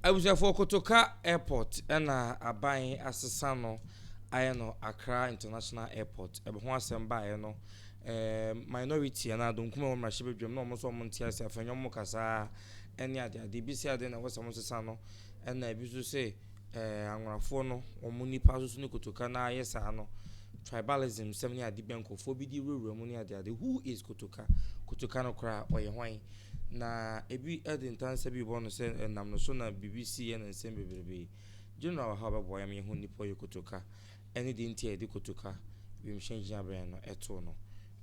Abusuafoɔ Kotoka Airport na aban asesa no ayɛ no Accra International Airport. Ɛbɛ ho asɛm baeɛ no, ɛɛ minority anaa donkum a ɛwɔ mmarahyɛbadwam na wɔn nso wɔn nte ase afei wɔn kasa ɛne ade ade bi sɛ ade na ɛwɔ sɛ wɔn sesa no ɛna ebi nso sɛ ɛɛ anworafoɔ no wɔn nipa nso ne kotoka na ayɛ saa no tribalism sɛm ne ade bi nkurɔfoɔ bi de wurawura mu ne ade ade who is kotoka kotoka no koraa ɔyɛ hwan. Na ebi de ntansa bi bɔ no sɛ ɛnam no so na biribi si yɛ na nsɛm bebrebe. General wɔ ha a ɔbɛboa yɛn ma yɛahu nnipa ɔyɛ kotoka ne deɛ nti a yɛde kotoka wimhyɛn gyinabea no too no.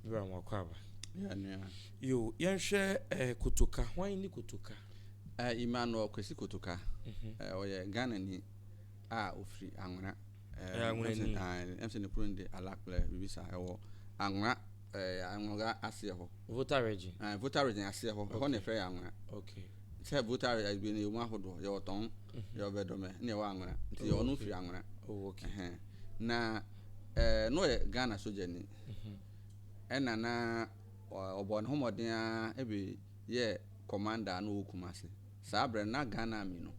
Wura Nwakwaba. Yeah, nua. Yo, yɛnhwɛ eh, kotoka. Hwan ne kotoka? Uh, Emmanuel Kwesi Kotoka. Mm -hmm. uh, ɔyɛ Ghanani a ofiri Anwena. Ɛyɛ anwona ni. Ɛm sɛ ne kuro no de Alakplɛ biribi saa ɛwɔ anwona ɛɛ anwona aseɛ hɔ. Volta region. Ɛɛ Volta region aseɛ hɔ ɛhɔ na ɛfɛ yɛ anwona. Okay. Sɛ Volta region bi no yɛ mu ahodoɔ yɛ wɔ tɔn yɛ wɔ bɛdɔmɛ ne yɛ wɔ anwona nti yɛ ɔno firi anwona. Oh okay. Ɛhɛn na ɛɛ no yɛ Ghana soja ni ɛna na ɔbɔ ne ho mmɔden ara ɛbi yɛ commander a na ɔwɔ Kumasi saa abirɛ na Ghana army no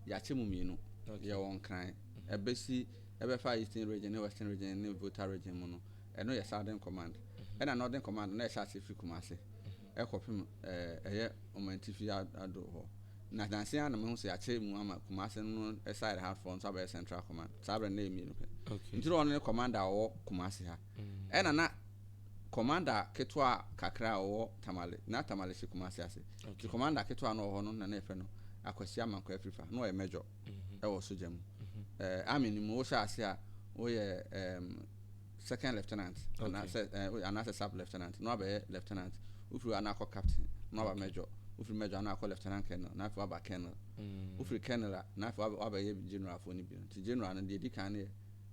yɛakyɛ mu mmienu yɛ wɔ Nkran. ɛbɛsi ɛbɛfa Eastern Region ne Western Region ne Volta Region mu no, ɛno yɛ Southern Command. Ɛna Northern Command no, na ɛhyɛ aseɛ firi Kumasi ɛkɔpem ɛɛ ɛyɛ Ɔmantifi aduru hɔ. Na nansa yi ara na mahu sɛ yɛakyɛ mu ama Kumasi no side ha foɔ nso abɛyɛ Central Command. Saa berɛ no na ɛyɛ mmienu pɛ. Okay. Nti na ɔno ne Commander a ɔwɔ Kumasi ha. Ɛna na Commander ketewa kakra a ɔwɔ Tamale, na Tamale hyɛ Kumasi ase. Nti Commander ketewa a na ɔwɔ hɔ no na na yɛfrɛ no Akwasi Amankwaa Afirifa, na ɔyɛ Major. wɔ sogya mu. Ɛɛ, Army no mu, wohyɛ ase a, woyɛ ɛɛm, Second Lieutenant, anaa sɛ, ɛɛ, woyɛ anaasɛ Sub Lieutenant, na wabɛyɛ Lieutenant. Wofiri hɔ a, na akɔ Captain, na waba Major. Wofiri Major a, na akɔ Lieutenant Colonel, na afei waba Colonel. Wofiri Colonel a, na afei wabɛyɛ General foɔ no bi. Nti General no, deɛ ɛdi kan no yɛ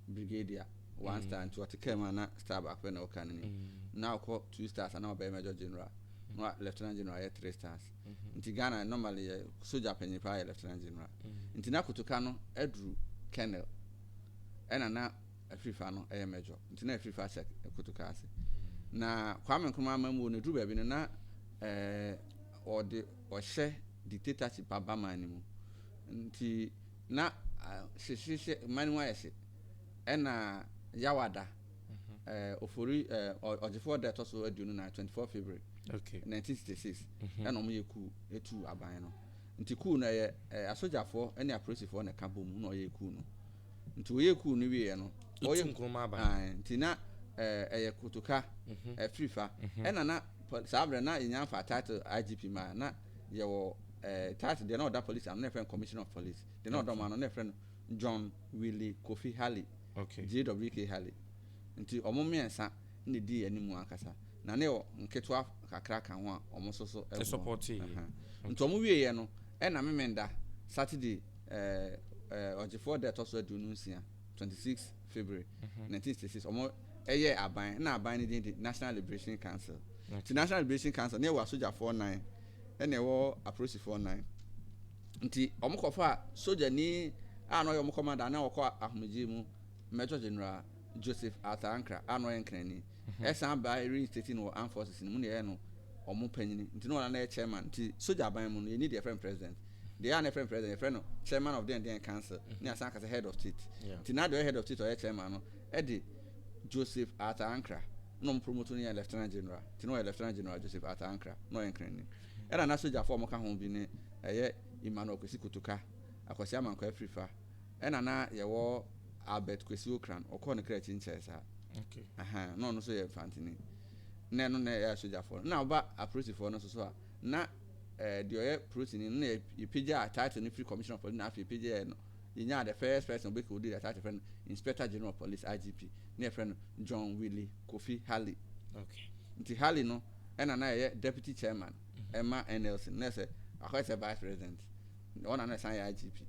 Brigadier, one star, nti wɔte kaa mu a, na star baako pɛ na ɛwɔ kaa no anim. Na akɔ two stars a, na wabɛyɛ Major General, na Lieutenant General ayɛ three stars. nti Ghana normally yɛ sogya panyin paa yɛ Lieutenant General nti na kotoka no aduru Colonel ɛna na afirifa no ɛyɛ Major nti na afirifa hyɛ kotoka ase na Kwame Nkrumah amammuo no aduru baabi no na ɛɛ ɔde ɔhyɛ dictatorship aba man no mu nti na hyehyehye man no mu ayɛ hye ɛna Yawada Ofori Ɔgyefoɔ da ɛtɔ so aduonu nan, 24 February, 1966, ɛna wɔyɛ kuu tuu aban no. Nti kuu no ɛyɛ asogyafoɔ ne apolisifoɔ na ɛka bom na ɔyɛ kuu no. Nti wɔyɛ kuu no wieɛ no, ɔyɛ nkuruma aban. Ae, nti na ɛyɛ kotoka, afiri fa. Ɛna na saa berɛ na yɛnya mfaa title IGP maa, na yɛwɔ title deɛ na ɔda police ano na yɛfrɛ no Commissioner of Police, deɛ na ɔda wɔn ano na yɛfrɛ no John Willie Kofi Halley. JWK Halley. Enti wɔn mmiɛnsa na edii anim ankasa, na na ɛwɔ nketewa kakra ka ho a wɔn nso so boa. Enti wɔn wieeɛ no, ɛna Memenda, Saturday, ɛɛ Ɔgyefoɔ da a ɛtɔ so aduonu nsia, 26 February 1966, wɔn yɛɛ aban, ɛna aban no din de National Liberation Council. Enti National Liberation Council, na ɛwɔ asogyafoɔ nnan, ɛna ɛwɔ apolisifoɔ nnan. Ntsi wɔkɔfaa sogyani a nna ɔyɛ hɔn kɔmandan na wɔkɔɔ ahomgyee mu, Major General Joseph Arthur Ankrah a nna ɔyɛ nkranyi. Yɛsan baa yɛreinstate no wɔ Armed Forces no mu na yɛyɛɛ no hɔn panyin, ntsi nna ɔno na yɛ Chairman. Ntsi sogya aban mu no, yɛnnyi deɛ yɛfrɛ no President. Deɛ ɛyɛ a nna yɛfrɛ no President, yɛfrɛ no Chairman of dɛndɛn Council na yɛasan aka sɛ Head of State. Ntsi na deɛ ɔyɛ Head of State a ɔyɛ Chairman no de Joseph Arthur Ankrah na wɔpromoto no yɛɛ Lieutenant General. Ntsi na ɔyɛ Lieutenant General Joseph Arthur Ankrah, na ɔyɛ nkranyi. Ɛna na sogyafo a wɔka ho bi ne ɛyɛ Emmanuel Kwesi Kotoka, Akwasi Amankwah Afirifa, ɛna na yɛwɔ Albert Kwesi Ocran, ɔkɔɔ ne kra akyi nkyɛɛ saa, ɛhaa, na ɔno nso yɛ Mfantini, na ɛno na ɛyɛ sogyafo no. Na woba aporisifo no nso so a, na ɛɛ deɛ ɔyɛ porisini no na yɛpagyaa title no firi Commissioner of Police na afei yɛpagyaa no yenyaa the first person a obekodii the title, yɛfrɛ no Inspector General of Police, IGP, na yɛfrɛ no John Willie Kofi Halley. Okay. Nti Halley no ɛna na ɛyɛ deputy chairman mm-hmm. ɛma NLC na ɛsɛ akɔyɛ sɛ vice president, ɔna na ɛsan yɛ IGP.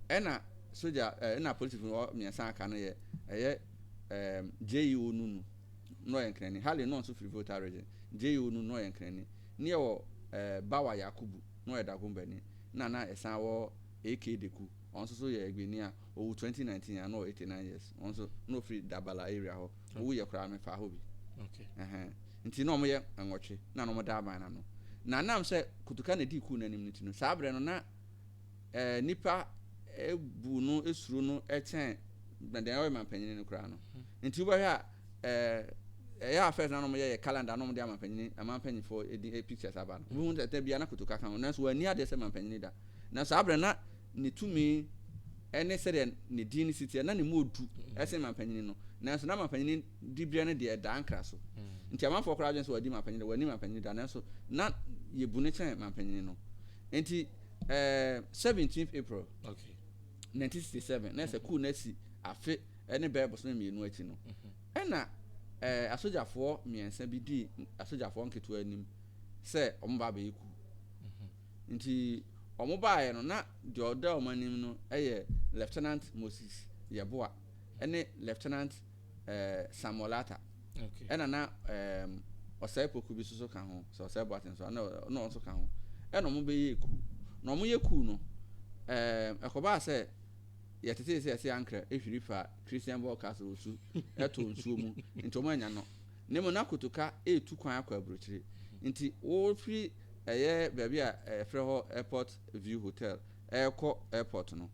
Ɛna soja ɛna polisi funu hɔ mmiɛnsa aka no yɛ ɛyɛ ɛɛm JEO Nunu na ɔyɛ nkranni. Halley no nso firi Volta region. JEO Nunu na ɔyɛ nkranni. Ne yɛ wɔ ɛɛ Bawa Yakubu na ɔyɛ Dagombani na na ɛsan wɔ AK Deku, ɔno nso so yɛ Egbeni a owu twenty nineteen a na ɔwɔ eighty nine years, ɔno nso na ofiri Dabala area hɔ, owu yɛ koraa mefaa hɔ bi. Ɛhɛn. Nti na wɔyɛ nwɔtwe na na wɔda aban no ano. Na ɛnam sɛ Kotoka na edii kuw no anim no nti no, saa berɛ no na eh, nnipa eh, bu no, suro no kyɛn na deɛ ɔyɛ manpanin no koraa no. Nti wobɛhwɛ a eh, ɛyɛ a first na na wɔyɛ yɛ calendar na wɔde amanpanin, aman mpanyinfoɔ din eh, pictures aba no, wobɛhu sɛ da biara na Kotoka ka ho, nanso wɔanni adeɛ sɛ manpanin da. Na saa berɛ no na ne tumi ne sɛdeɛ ne din no si teɛ, na ne mu ɔdu sen mampanyini no, nanso na mampanyini diberɛ no deɛ ɛdaa nkra so. Nti amanfoɔ koraa dwene sɛ wadi mampanyini da, wanni mampanyini da, nanso na yɛbu no kyɛn mampanyini no. Nti eh, 17th April, 1967, na ɛsɛ kuu no asi afe ne bɛyɛ bosome mmienu akyi no, ɛna eh, asogyafoɔ mmiɛnsa bi dii asogyafoɔ nketewa anim sɛ wɔba abɛyɛ kuu. Nti ɔmo baeɛ no na deɛ ɔda ɔmo anim no yɛ Lieutenant Moses Yeboah ne Lieutenant Samuel Atta ɛna na Osei Poku bi soso ka ho sɛ Osei Boateng so na ɔno nso ka ho ɛna ɔmo bɛyɛɛ kuu na ɔmo yɛ kuu no ɛkɔbaa sɛ yɛtetee sɛ ɛse ankrɛ hwiri faa Christian Bourkas Owusu ɛtoo nsuo mu nti ɔmo annya no Na mmom na kotoka retu kwan akɔ aburokyire nti wɔfiri ɛyɛ baabi a yɛfrɛ hɔ Airport View Hotel rekɔ airport no,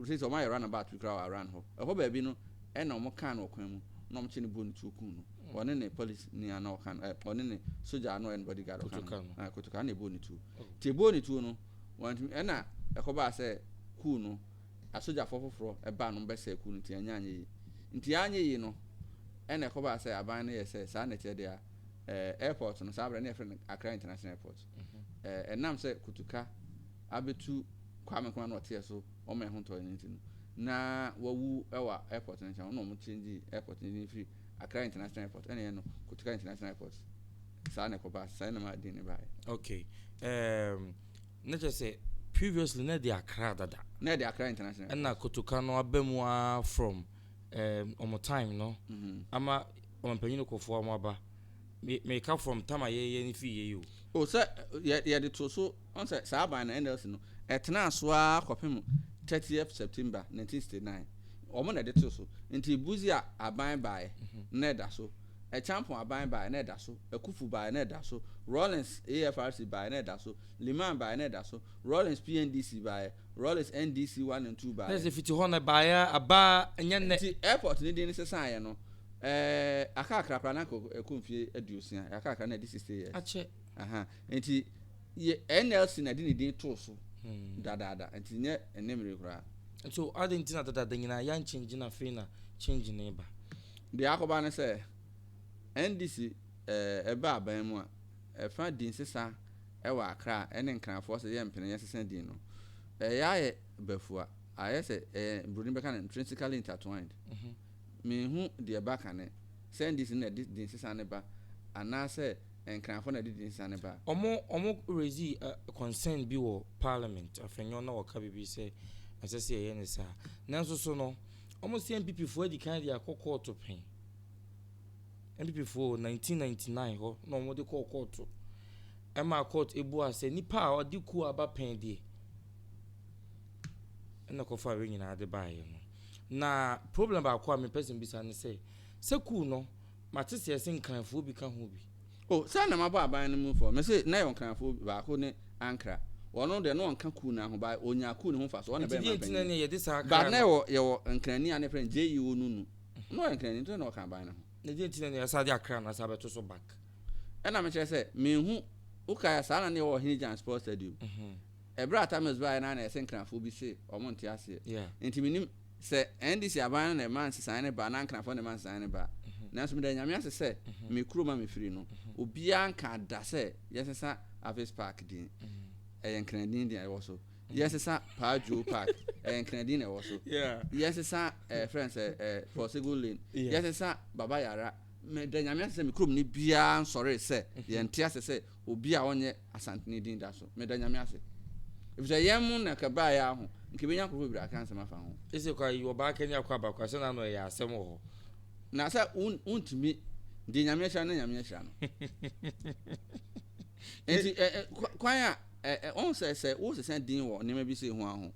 seisei wɔayɛ run about bi koraa wɔ around hɔ, ɛhɔ baabi no ɛna wɔn kaa no wɔ kwan mu na wɔn kye no bɔɔ ne tuo kum no, ɔne ne police ni a na ɔka no, eh, ɔne ne sogya a na ɔyɛ ne body guard ɔka no, ah, kotoka na ɛbɔɔ ne tuo, nti ɛbɔɔ ne tuo no, wɔantumi, ɛna ɛkɔbaa sɛ kuu no asogyafoɔ foforɔ baa no bɛsɛɛ kuo no nti annya anyɛ yie. Nti yɛanyɛ yie no na ɛkɔbaa sɛ aban no yɛɛ sɛ saa na ɛteɛ deɛ a ɛɛ airport no saa berɛ no na yɛfrɛ no Accra International Airport. Ɛɛ ɛnam sɛ Kutuka abɛtu Kwame Nkrumah na ɔteɛ so ɔma yɛn ho ntɔeɛ no nti no na wawu wɔ airport no nkyɛn hɔ na wɔn changee airport no din firi Accra International Airport ɛna yɛn no Kutuka International Airport saa na ɛkɔbaa saa na ɛmaa din no baeɛ. Okay. Um, Na kyerɛ sɛ previously na ɛde Accra dada. Na ɛde Accra International Airport. Ɛna Kotoka no aba mu ara from um, wɔn time no mhm. ama ɔmpanyin kɔfoɔ wɔn aba. Meka from time a yɛyɛ no fii yɛ yi o. O sɛ yɛde to so ɔn sɛ saa aban no NLC no ɛtenaa so ara kɔpem 30th September 1969 wɔn na ɛde to so nti buzi a aban baeɛ mhm. na ɛda so. Acheampong aban baeɛ na ɛda so, Akuffo baeɛ na ɛda so, Rawlings AFRC baeɛ na ɛda so, Limann baeɛ na ɛda so, Rawlings PNDC baeɛ, Rawlings NDC one and two baeɛ. Na sɛ fiti hɔ na ɛbaeɛ a, aba a ɛnyɛ nnɛ. Nti airport no din no sesaeɛ no, ɛɛ aka akra koraa na anka ɛkɔ mfie aduosia, ɛaka akra na ɛdi sixty years. Akyɛ. Aha, nti yɛ NLC na ɛde ne din too so dadaada, nti nyɛ ɛnnɛ mmere yi koraa. So adɛn nti na dadaada nyinaa yɛanchange na afei na change no reba? Deɛ akɔba ne sɛ, NDC ɛba aban mu a, ɛfa din sesa wɔ Accra ne Nkrafoɔ sɛ yɛ mpene yɛ sesa din no. Ɛyɛ ayɛ bafua, ayɛ sɛ ɛyɛ broni bɛka no intrinsically intertwined. Menhu deɛ ɛba kane sɛ NDC na ɛde din sesa no ba anaasɛ Nkrafoɔ na ɛde din sesa no ba. Wɔn raise concern bi wɔ parliament afenyo na wɔka biribi sɛ ɛnsɛ sɛ yɛyɛ no saa. Nanso so no. Wɔn se NPP foɔ adi kan de akɔ kɔɔto pɛn. NPP foɔ wɔ nineteen ninety nine hɔ na wɔn de kɔɔ kɔɔto. Ɛma kɔɔto ebuaa sɛ nipa a ɔde kuo aba pɛn deɛ ɛna kɔfa wei nyinaa de baeɛ no. Na problem baako a mepɛ sɛ mbisa ne sɛ, sɛ kuo no mate sɛ yɛse nkranfoɔ bi ka ho bi. O, sɛ na mabɔ aban no mufo a, mese na yɛwɔ Nkramofoɔ bi, baako ne Ankra. Ɔno deɛ, na ɔnka kuo no ahoba, ɔnyaa kuo no ho mfasoɔ, ɔno na ɛbɛyɛ manpanin. Nti deɛ nti na ne yɛde saa kra no. But na yɛwɔ, yɛwɔ Nkrani a ne frɛ no JE Onunu. Na ɔyɛ Nkrani, nti na ɔka aban no ho. Na deɛ nti na ne yɛsan de akra no asan abɛto so back. Ɛna mekyerɛ sɛ, menhu, wokae a, saa na ne yɛwɔ Ɔhene Gyan Sports Stadium. Ɛberɛ a Tamils baeɛ no ara na yɛse Nkramofoɔ bi se wɔn nte aseɛ. Yeah. Nti mennim. Sɛ NDC aban no na ɛma nsesaeɛ no ba, na Ankenafoɔ na ɛma nsesaeɛ no ba. Nanso meda Nyame ase sɛ, me kurom a mefiri no, obiara nkaa da sɛ yɛnsesa Aves Park din. Ɛyɛ Nkran din na ɛwɔ so. Yɛnsesa Paa Dwoo Park, ɛyɛ Nkran din na ɛwɔ so. Yɛnsesa eh, ɛfrɛ no sɛ eh, Forsegun Lane, yɛnsesa Baba Yara. Meda Nyame ase sɛ me kuromni biara nsɔree sɛ yɛnte ase sɛ Obi a ɔnyɛ Asantene din da so. Meda Nyame ase. Efisɛ yɛn mo na kɛ baa yɛ aho, nka ebenya nkurɔfo bebree aka nsɛm afa ho. Ese kwa yi, ɔbaa kɛ ne akwaaba kwa, sɛ na ano ɛyɛ asɛm wɔ hɔ. Na sɛ wo, wontumi, deɛ Nyame ahyira no na Nyame ahyira no. Enti ɛ, ɛ, kwa, kwan a, ɛ, ɛ, wɔn sɛ, sɛ wosesa din wɔ nneɛma bi sei ho a ho,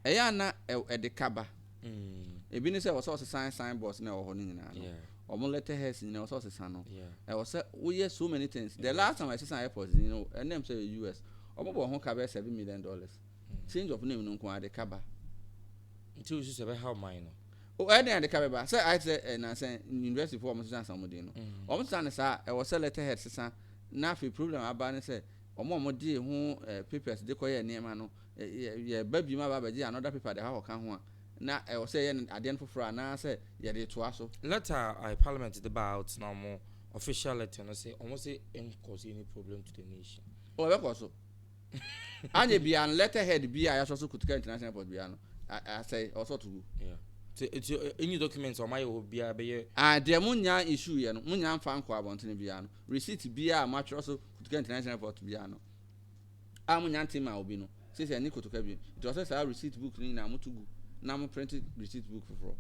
ɛyɛ a na ɛ, ɛde ka ba. Mm. Ebi ne sɛ wɔsɛ ɔsesan signboards na ɛwɔ hɔ no nyinaa no. Wɔn letterheads nyinaa wɔsɛ ɔsesan no. Ɛwɔ sɛ woyɛ so many things. The last time I sesan airport ni no, ɛnna mu sɛ yɛ US. Wɔn bɔ ho ka bɛyɛ seven million dollars. Mm. Change of name no nko ara de ka ba. Nti wosu sɛ bɛha ɔman no. O ɛyɛ den ade ka bɛba sɛ ayɛ sɛ ɛnansɛ eh, university fo wɔn sesan san wɔn din no. Mm. Wɔn sesan ne saa ɛwɔ sɛ letterhead sesan na afei problem aba ne sɛ wɔn a wɔde ho eh, papers de kɔyɛ nneɛma no yɛ yɛba biom aba abɛgye another paper de akɔka ho a, na ɛwɔ sɛ yɛyɛ no adeɛ no foforɔ anaa sɛ yɛde retoa so. Letter a eh parliament de baa out na wɔn official letter no se wɔn se en cause any problem to the nation. Oh ɛbɛkɔ so. Anyɛ biaa no letter head biaa a yɛasɔ so Kotoka International Airport biaa no asɛe, ɛwɔ sɛ wɔto gu. Yeah. Nti nti any documents a wɔn ayɛ wɔ hɔ biaa ɛbɛyɛ. Ah deɛ mo nya issue yɛ no mo nya mfa nkɔ abɔntene biaa no receipt biaa a moatwerɛ so Kotoka International Airport biaa no. a monya nte mmaa obi no, seesei ɛnne kotoka bio. Nti ɔsɛ saa receipt book no nyinaa moto gu na mo print receipt book foforɔ.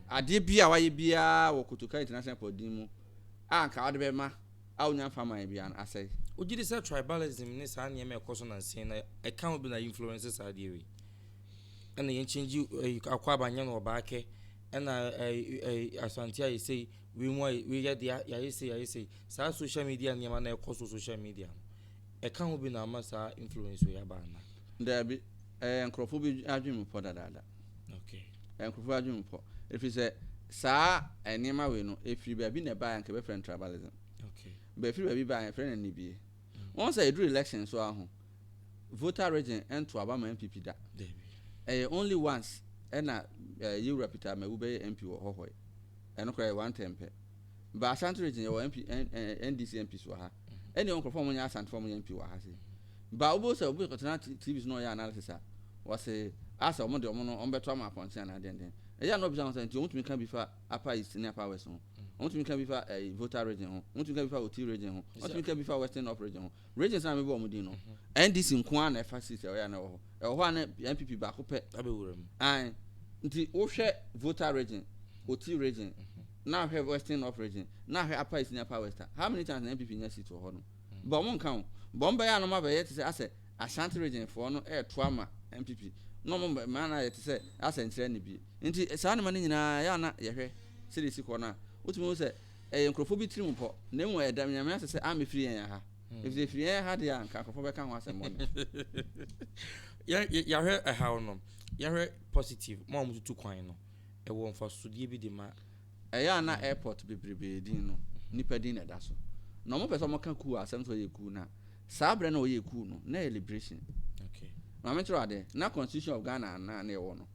Adeɛ biaa wayɛ biaa wɔ Kotoka International Airport din mu a anka ɔde bɛma a ɔnya mfa mmaeɛ biaa no, asɛe. Wogye di sɛ tribalism ne saa nneɛma a ɛkɔ so nansa yi na ɛka ho bi na influence saa adeɛ wei? Ɛna yɛn change Akwaaba nyɛ no Ɔbaakɛ, ɛna Asante ayɛ sei, Wei mu ayɛ wei yɛ deɛ yɛayɛ sei yɛayɛ sei saa social media nneɛma na ɛkɔ so social media no ɛka ho bi na ama saa influence wei aba ana. Daabi, ɛyɛ nkurɔfoɔ bi adwene mu pɔ dadaada. Okay. Ɛyɛ nkurɔfoɔ bi adwene mu pɔ ɛfiri sɛ saa nneɛma wei no ɛfiri baabi na ɛbaeɛ anka yɛbɛfrɛ no tribalism. Okay. But ɛfiri baabi baeɛ yɛfrɛ no anibie. Wɔn sɛ ɛduru election so ara ho voter region ɛnto aba ma NPP da. Ɛyɛ only once ɛna Yewura Peter Amawu bɛyɛ MP wɔ hɔhɔ yi. Ɛno koraa ɛyɛ one term pɛ. Ba Ashanti region yɛwɔ MP, NDC MPs wɔ ha. Ɛne ɛwɔ nkorɔfoɔ a wɔnyɛ Asante foɔ a wɔyɛ MP wɔ ha sei. Ba wobɛhu sɛ obi kɔtena TV so na ɔyɛ analysis a, wɔse asɛ wɔn deɛ wɔn no wɔn bɛto ama apɔnkye anaa dɛn dɛn. Ɛyɛ a na obisa wɔn sɛ nti wɔn tumi ka bi fa Upper East ne Upper West ho. Wotumi ka bi fa ɛyi Volta region ho, wotumi ka bi fa Oti region ho, wotumi ka bi fa Western North region ho. Regions na mebɔ wɔn din no, NDC nko ara na ɛfa seat ɛwɔ yɛ a na ɛwɔ hɔ. Ɛwɔ hɔ a na NPP baako pɛ. Abɛwura mu. Ae, nti wohwɛ Volta region, Oti region, na ahwɛ Western North region, na ahwɛ Upper East ne Upper West a, how many times na NPP nya seat wɔ hɔ nom? Bɔ wɔn nka o. Bɔ wɔn bɛyɛ a na wɔabɛyɛ te sɛ asɛ Ashanti region foɔ no ɛɛto ama NPP na ɔmo mma no ayɛ te sɛ asɛnkyerɛ no bi nti saa nneɛma no nyinaa ɛyɛ a na yɛhwɛ sɛdeɛ esi kɔ no a wotumi hu sɛ ɛyɛ nkorɔfoɔ bi tirim pɔ na mmom ɛda Nyame ase sɛ ammɛfiri yɛn ha efisɛ efiri yɛn ha deɛ a nka nkorɔfoɔ bɛka ho asɛm bɔne. Yɛahwɛ ɛhaw no yɛhwɛ positive mo a motutu kwan no ɛwɔ mfasodeɛ bi de ma. Ɛyɛ a na airport bebrebee din no nnipa din na ɛda so na ɔmo pɛ sɛ ɔmo ka kuo a asɛm sɛ ɔyɛ kuo no a Saa berɛ na ɔyɛ ɛkuu no na ɛyɛ liberation ma me nkyerɛ adeɛ na constitution of Ghana na na yɛwɔ no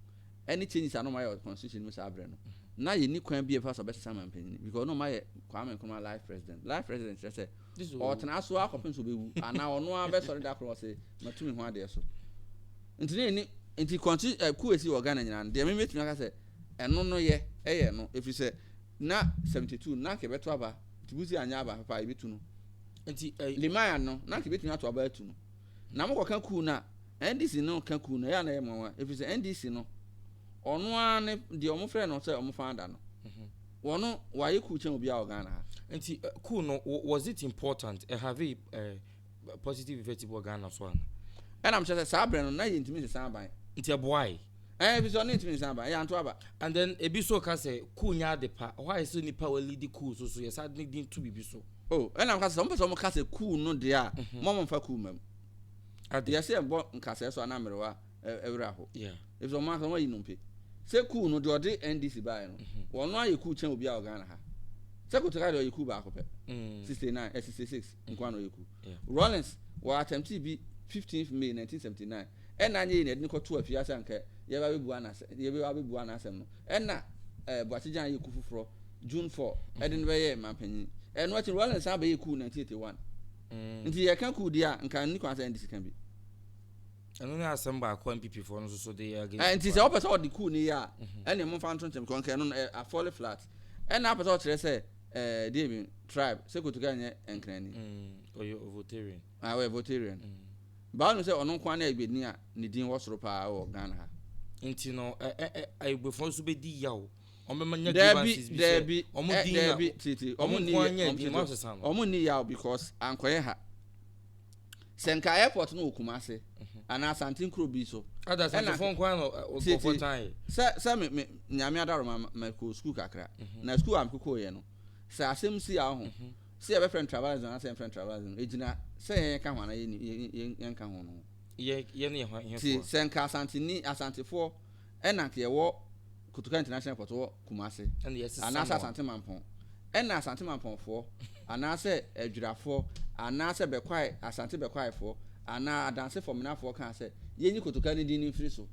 ɛne changes a na ɔmayɛ constitution no mu saa berɛ no na yɛni kwan bi a ɛbɛfa so ɔbɛsesa mampanyini because na ɔmayɛ Kwame Nkrumah life president life president kyerɛ sɛ ɔtena so akɔpem so bɛwu anaa ɔno ara bɛsɔre da korɔ ɔse matu me ho adeɛ so nti ne ɛni nti kɔnti ɛku eh, ɛsi wɔ Ghana nyinaa no deɛ me mɛtumi aka sɛ ɛno no yɛ ɛyɛ ɛno ɛfiri sɛ na 72 na nka ɛbɛto aba nti busi anyɛ aba papa ɛbɛtu no Nti ɛy Limaya no na nka ebetumi ato aba atu no. Na mo kɔka kuu no a NDC no ka kuu no ɛyɛ a na ɛyɛ nwanwa efiri sɛ NDC no ɔno ara ne deɛ ɔmo frɛ no sɛ ɔmo founder no ɔno wayɛ kuu kyɛn obiara wɔ Ghana ha. Nti kuu no was it important ɛ have ɛ positive effect bi wɔ Ghana so ana? Ɛna mekyerɛ sɛ saa berɛ no na yɛntumi nsesa aban. Nti ɛboae? Eh, ebi sɛ ɔne ntumi nsan ba, yɛanto aba. And then ebi nso ka sɛ cool nyɛ ade pa, ɔhɔ ayɛ sɛ nipa wa lidi cool so so yɛsa ne din to biribi so. Oh, ɛna mka sɛ sɛ ɔmo pɛ sɛ ɔmo ka sɛ cool no deɛ a, mhm. mo ɔmo mfa cool ma mu. Ade. Yɛsɛ yɛbɔ nkasɛɛ so anaa mmerewa ɛwerɛ ho. Yeah. Ebi sɛ ɔmo aka ɔmo ayi nnompe. Sɛ cool no deɛ ɔde NDC baeɛ no, mhm. wɔn ayɛ cool kyɛn obiara wɔ Ghana ha. Sɛ Kotoka deɛ ɔyɛ cool baako pɛ. Mm. 69, eh, 66. nko ara na ɔyɛ ku. Rawlings wɔ attemptee bi 15th May 1979, ɛna anyɛ yei na yɛde no kɔtoo afie ha sɛ anka yɛbɛba abɛbua no asɛ, yɛbɛba abɛbua no asɛm no, ɛna eh, Boakye Gyan yɛɛ ku foforɔ June 4, ɛde no bɛyɛɛ mampanyin. Ɛno akyi no, Rawlings san bɛyɛɛ ku 1981. Nti yɛreka ku deɛ a, nka nni kwan sɛ ɛndi sika bi. Ɛno ne asɛm baako a NPP foɔ no nso so de yɛ against. Eh, nti sɛ wɔpɛ sɛ wɔde ku no yɛ a, ɛne momfa nto nkyɛn, because nka ɛno no, eh, afɔle flat. Ɛna apɛ sɛ ɔkyerɛ sɛ ɛɛ eh, deɛ bi tribe sɛ kotoka nyɛ nkranni. Mm, ɔyɛ ovotarian. Ah, ɔyɛ ovotarian. Mm. Baa no sɛ ɔno nko ara na egbedini a ne din wɔ soro paa wɔ Ghana ha. Nti no ɛ ɛ ɛ ayigbefo nso bɛ di yaw. Wɔn bɛ ma nya grievances bi sɛ wɔn eh, din na wɔn nko ara nya din wɔn asesa no. Wɔn ni yaw because ankɔyɛ ha. sɛ nka airport no wɔ kumase anaa asante nkuro bi so ada asantefo nko ano nkɔfɔ tan sɛ sɛ me me nyame adaro ma ma kɔ school kakra mhm. na school am koko yɛ no sɛ asɛm si a ho mhm. sɛ yɛbɛ friend travelism anaa sɛ yɛn friend travelism egyina sɛ yɛn ka ho anaa yɛn yɛn yɛn ka ho no yɛ yɛn yɛ ho yɛn fo sɛ nka asanteni asantefoɔ ɛna nka yɛwɔ Kotoka International Airport wɔ Kumase anaasɛ Asante Mampɔn, ɛna Asante Mampɔnfoɔ anaasɛ Adwirafoɔ anaasɛ Bɛkwae, Asante Bɛkwaefoɔ anaa Adanse Fɔmenafoɔ kaa sɛ yɛnyi Kotoka no din no mfiri so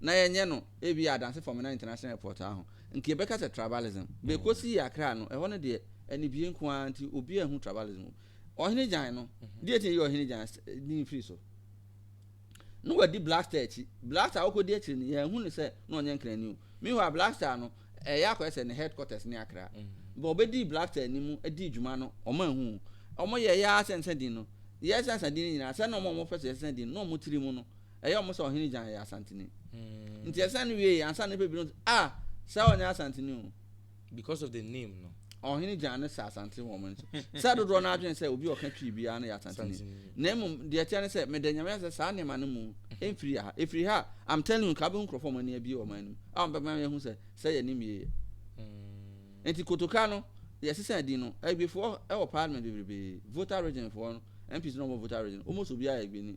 na yɛnyɛ no ebia Adanse Fɔmena International Airport a ho nka yɛbɛka sɛ tribalism. Bɛkɔsii Accra no, ɛhɔ no deɛ anibue nko ara nti obiara nhu tribalism mu. Ɔhene Gyan no, deɛ nti na yɛyi Ɔhene Gyan din firi so? Na wadi Blaster akyi. Blaster a ɔkɔdi akyire no, yɛanhu no sɛ na ɔnyɛ Nkrani o. Meanwhile, Blaster no, ɛyɛ akɔyɛ sɛ ne headquarters ne Accra. But ɔbɛdii Blaster anim dii dwuma no, wɔanhu o. Wɔyɛeɛ ara sɛ nsã din no. Yɛsesa nsa din no nyinaa, sɛ na wɔn a wɔpɛ sɛ yɛsesa din no, na wɔn tiri mu no, ɛyɛ wɔn sɛ Ɔhene Gyan yɛ Asanteni. Nti yɛsesa no wieeɛ, ansa na nnipa binom sɛ, Ah! Saa ɔnyɛ Asanteni o. Because of the name no. Ɔhene Gyan no sɛ Asanteni wɔ wɔn ani so. Sɛ dodoɔ no ara dwene sɛ obi a ɔka Twi biara no yɛ Asanteni. Na mmom, deɛ ɛteɛ ne sɛ, meda Nyame ase sɛ saa nneɛma no mu mfiri yɛ ha. Ɛfiri ha a, I'm telling you, nka wobɛhu nkurɔfoɔ a wɔn ani abue wɔ wɔn anim a wɔbɛma yɛahu sɛ sɛ yɛnim yie yɛ. Enti Kotoka no, yɛsesa din no, Agbefoɔ wɔ Parliament bebrebee, Volta Region foɔ no, MPs no a wɔwɔ Volta Region, almost obiara yɛ Agbeni.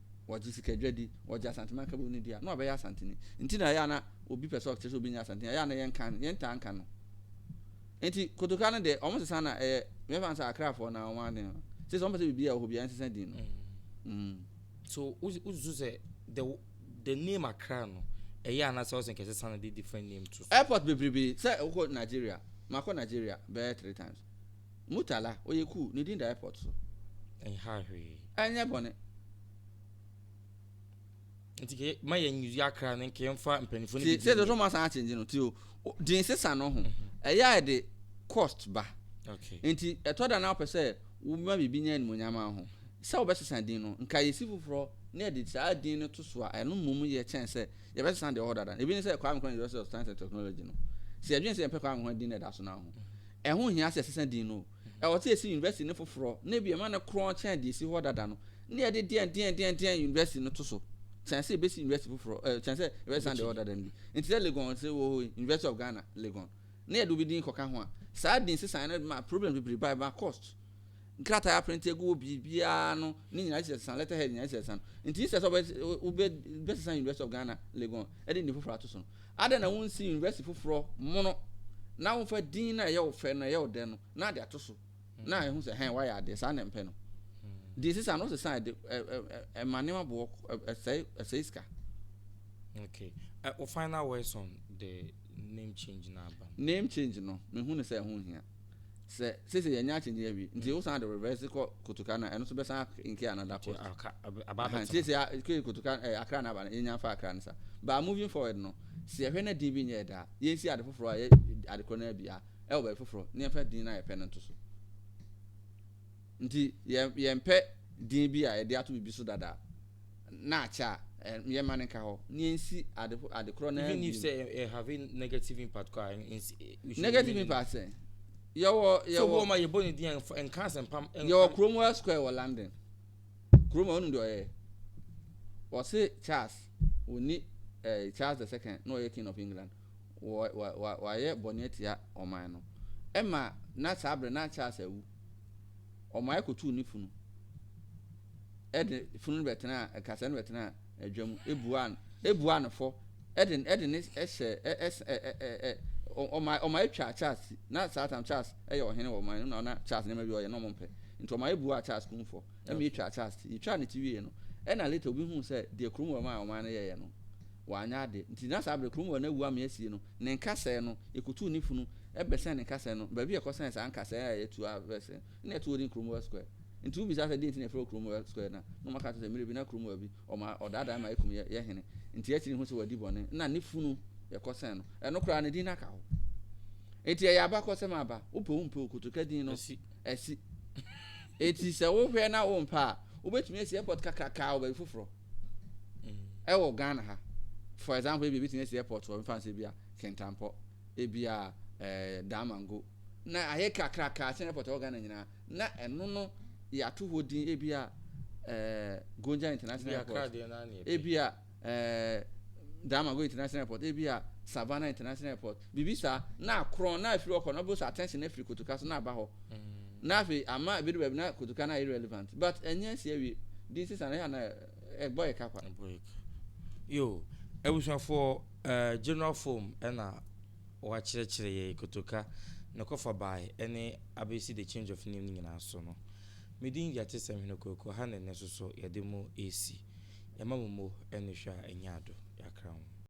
wɔgye sikadwa di, wɔgye Asante Mankabɔ no di a, na ɔbɛyɛ Asanteni. Nti na ɛyɛ a na obi pɛ sɛ ɔkyerɛ sɛ obi nyɛ Asanteni a, ɛyɛ a na yɛnka no, yɛntaa nka no. Nti Kotoka no deɛ, wɔn sesa na ɛyɛ, mɛfa no sɛ Akrafoɔ na wɔn aden no. Sɛ sɛ wɔn pɛ sɛ biribi a ɛwɔ hɔ biara nsesa din no. Mm. mm. So, wosusu sɛ the the name Accra no, ɛyɛ a na sɛ ɔsɛ nkɛsesa no de different name to? Airport bebrebe, sɛ wokɔ Nigeria, makɔ Nigeria bɛyɛ three times. Murtala, ɔyɛ cool, ne din da airport so. Ɛnha hwee. Ɛnyɛ bɔne. Nti ke ma yɛ nyi akra ne nke mfa mpanyinfo ne bi. Ti sɛ dɔtɔ ma san change no ti o din sesa no ho mhm. ɛyɛ a ɛde cost ba. Okay. Nti ɛtɔ da na ɔpɛ sɛ woma biribi nya animonyam ho sɛ wɔbɛsesa din no nka yɛsi foforɔ na yɛde saa din no to so a ɛno mmom yɛ kyɛn sɛ yɛbɛsesa deɛ ɔhɔ dada ebi ne sɛ kwame kwan university of science and technology no sɛ yɛdwene sɛ yɛmpɛ kwame kwan din na ɛda so no ho Ɛho nhia sɛ yɛsesa din no. Ɛwɔ sɛ yesi University no foforɔ na ebia yɛma no korɔn kyɛn deɛ esi hɔ dada no, na yɛde deɛndeɛndeɛndeɛn University no to so kyɛn sɛ yɛbesi University foforɔ, ɛɛ, kyɛn sɛ yɛbɛsesa deɛ ɛwɔ dada no bi. Enti sɛ Legon nso wɔ hɔ yi, University of Ghana, Legon, na yɛde obi din kɔka ho a, saa din sesaeɛ no de ma problems bebree ba, ɛma cost. nkrataa aprente agu wɔ biribiara ano ne nyinaa kyerɛ sesa letter head nyinaa kyerɛ sesa no nti instead sɛ wobɛsesa university of ghana legon ɛde nni foforɔ ato so no adɛn na wonsi university foforɔ mono na womfa din na ɛyɛ wo fɛ no ɛyɛ wo dɛ no na ade ato so na ɛho sɛ hɛn wayɛ adeɛ saa na mpɛ no deɛ sesa no sesa ɛde ɛma nneɛma boɔ ɛsɛe ɛsɛe sika okay uh, final words on the name change na aba name change no mehu ne sɛ ɛho hia Sɛ sese yɛnyɛ akyinye awi nti mm. wosan de reverse kɔ kotoka na ɛno so bɛsan nke another cost nti sese kee kotoka eh, akra na aba no yɛnya fa akra no sa but moving forward no sɛ yɛhwɛ na din bi nyɛ ɛda yɛnsi ade foforɔ a yɛ ade korɔ no abia ɛwɔ baabi foforɔ ne yɛmfa din no a yɛpɛ no nto so Nti yɛmpɛ din bi a yɛde ato biribi so dada na akyɛ a, yɛmma no nka hɔ na yɛnsi ade korɔ no ara bio. Even if sɛ ɛ have negative impact kɔ a, nsi. Negative impact sɛ? Yɛwɔ yɛwɔ. So wɔn ma yɛbɔ ne din a nka asɛmpa. Yɛwɔ Cromwell Square wɔ London. Cromwell ɔnum deɛ ɔyɛ. Wɔse Charles wɔni ɛɛ Charles the second na ɔyɛ King of England. Wɔ wɔ wɔ wɔayɛ bɔne atia ɔman no. Ɛma na saa abirɛ na Charles awu. ɔmae kotuu ne funu de funu no bɛtenaa nkasɛɛ no bɛtenaa adwa mu ebuaa no ebuaa no fɔ ɛde ɛde ne ɛhyɛ ɛs ɛ ɛ ɛ ɔmae ɔmae twaa Charles ti na saa tam Charles ɛyɛ ɔhene wɔ ɔman no na ɔna Charles nneɛma bi ɔyɛ na ɔmo mpɛ nti ɔmae buaa Charles kun fɔ ɛma etwaa Charles ti etwaa ne ti wie no ɛna later obi huu sɛ deɛ Cromwell maa ɔman no yɛɛyɛ no wanyɛ ade nti na saa bere Cromwell no awu ama asie no Ne nkasɛɛ no, yɛkɔtuu ne funu bɛsɛn ne nkasɛɛ no, baabi a yɛkɔsɛn saa nkasɛɛ a yɛatu a bɛsɛn no na yɛtoo din Cromwell Square. Nti wobisaa sɛ deɛn nti na yɛfrɛ hɔ Cromwell Square no a, na wɔaka ato sɛ mmerɛ bi na Cromwell bi, ɔma ɔdaadaa yɛn ma yɛkum yɛn, yɛn hene, nti akyiri yi hu sɛ wadi bɔne na ne funu yɛkɔsɛn no. Ɛno koraa ne din no aka hɔ. Nti ɛyɛ abakɔsɛm aba, wopɛ wompɛ o, Kotoka din no asi. Nti sɛ wohwɛ na wompɛ a, wobɛtumi asi airport kakrakaa wɔ baabi foforɔ. ɛwɔ mm. ghana ha for example ebi ebitumi esi airport wɔ nfa nsɛ bi a kentampɔ ebi a ɛɛ eh, damango na ayɛ kakraka asen airport wɔ ghana nyinaa na ɛno no yɛato hɔ din ebi a ɛɛ eh, gonja international airport ebi a ɛɛ eh, damango international airport ebi a savannah international airport biribi saa, na akorɔn, na afiri hɔ kɔ no, ɔbɛwɔ sɛ attention no afiri kotoka so na aba hɔ, na afei ama ebedu baabi na kotoka no ayɛ irrelevant, but ɛnyɛ nsi awie, din sesa no, ɛyɛ a na ɛbɔ yɛ ka kwa. Ɛbɔ yɛ ka. Yo, abusuafoɔ, eh, general form ɛna wɔakyerɛkyerɛ yɛ kotoka ne kɔfa bae ɛne abɛsi the change of name no nyinaa so no. Me din Gyatesɛm Hene Kwaku, ha na ɛnnɛ nso so yɛde mo resi. Yɛma mo mo ɛne hwɛ a ɛnyɛ ado, yɛakra mo.